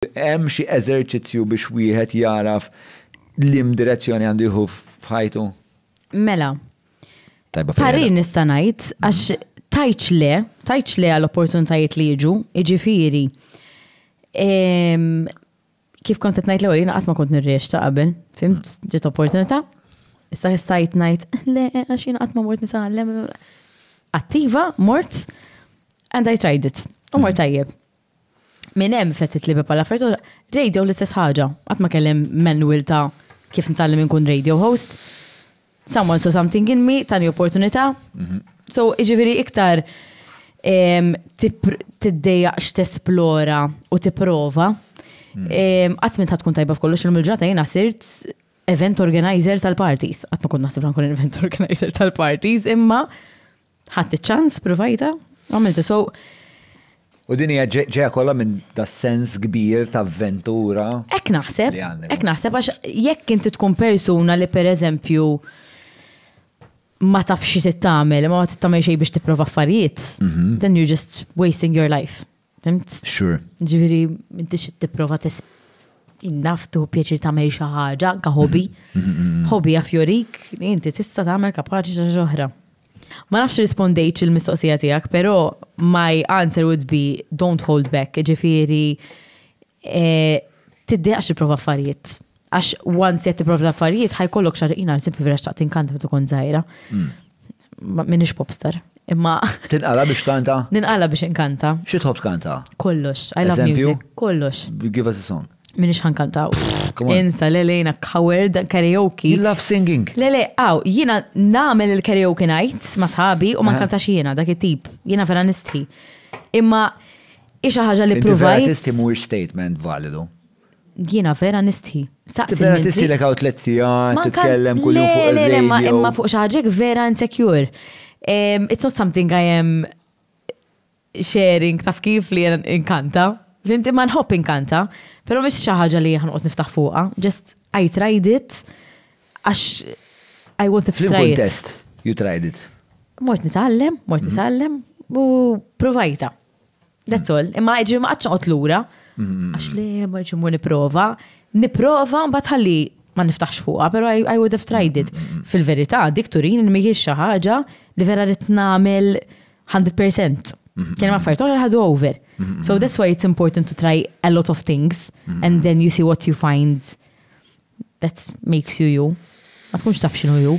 Hemm xi eżerċizzju biex wieħed jagħraf liem direzzjoni għandu jieħu f'ħajtu? Mela. Tajba fil-ħin. Parir nista' ngħid għax tajtx le, tajtx le għal opportunitajiet li jiġu, jiġifieri. Kif kont qed ngħid l-ewwel jiena qatt ma kont nirriex ta' qabel, fimt ġiet opportunità. Issa stajt ngħid le għax jiena qatt ma mort nisgħallem. Attiva, mort and I tried it. U mort tajjeb. Minn hemm fetħiet l-iben bħal affarijiet oħra. Radio l-istess ħaġa. Qatt ma kelli manual ta' kif nitgħallem inkun radio host. Someone saw something in me, tani opportunità. So, jiġifieri iktar tiddejjaq x'tesplora u tipprova. Qatt m'int ħa tkun tajba f'kollox, illum il-ġurnata jiena sirt event organizer tal-parties. Qatt ma kont naħseb li ħa nkun event organizer tal-parties, imma Ħadd iċ-ċans, provajta, għamiltu so. U din hija ġeja kollha minn da sens kbir ta' avventura. Ek naħseb, ek naħseb għax jekk inti tkun persuna li pereżempju ma tafx xi tagħmel, ma tagħmel xejn biex tipprova affarijiet, mhm. then you're just wasting your life. Fimt? Sure. Ġifieri m'intix tipprova tis innaftu pjaċir tagħmel xi ħaġa, anke hobby. Hobby għaf jorik li inti tista' tagħmel kapaċi xi ħaġa oħra. Ma nafx rispondejt il-mistoqsija tiegħek, però my answer would be don't hold back, ġifieri Tiddiqax tipprova affarijiet. Għax once qed tipprova affarijiet ħajkollok xar jina simpi vera xtaqt inkanta meta kont żgħira. Hmm. Minix popstar. Imma. Tinqala biex kanta? Ninqala biex inkanta. Xi tħobb kanta? Kollox. I love music. Kollox. Give us a song. Minix ħankantaw. Insa, le lejna coward karaoke. You love singing. Le le, għaw, jina namel il-karaoke night ma sħabi u ma nkantax jina dak it-tip. Jina vera nistħi. Imma Hi xi ħaġa li ppruvajt. Inti vera tistħi mhuwiex statement validu. Jiena vera nistħi. Saqsi. Vera tistħi lek hawn tliet sigħat titkellem kuljum fuq il-radio. Le, le, imma fuq xi ħaġa vera insecure. It's not something I am sharing taf kif li inkanta. Fimti ma nħobb inkanta, però mhix xi ħaġa li ħanqod niftaħ fuqha. Just I tried it għax I wanted to try it. Fil-kontest, you tried it. Mort nitgħallem, mort mhm. nitgħallem u provajta. That's all. Imma ġi ma għadx noqgħod lura. Mm-hmm. Għax li ma ġi mu niprova. Niprova mbagħad ħalli ma niftaħx fuqha, però I, I would have tried it. Mm-hmm. Fil-verità, dik turin li mhijiex xi ħaġa li vera rid nagħmel 100%. Mm-hmm. Kien ma affarijiet oħra ħadu over. So that's why it's important to try a lot of things and then you see what you find that makes you you. Ma tkunx taf xinu ju.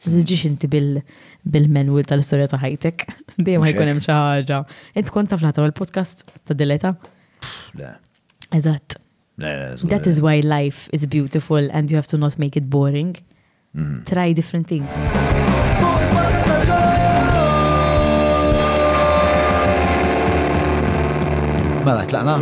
Ġiġ inti bil-menwil tal-istoria ta' ħajtek. Dejjem ma jkun hemm xi ħaġa. Int kont taf laħta il-podcast ta' dileta? Le. Eżatt. That is why life is beautiful and you have to not make it boring. Mm-hmm. Try different things. Mela, tlaqna?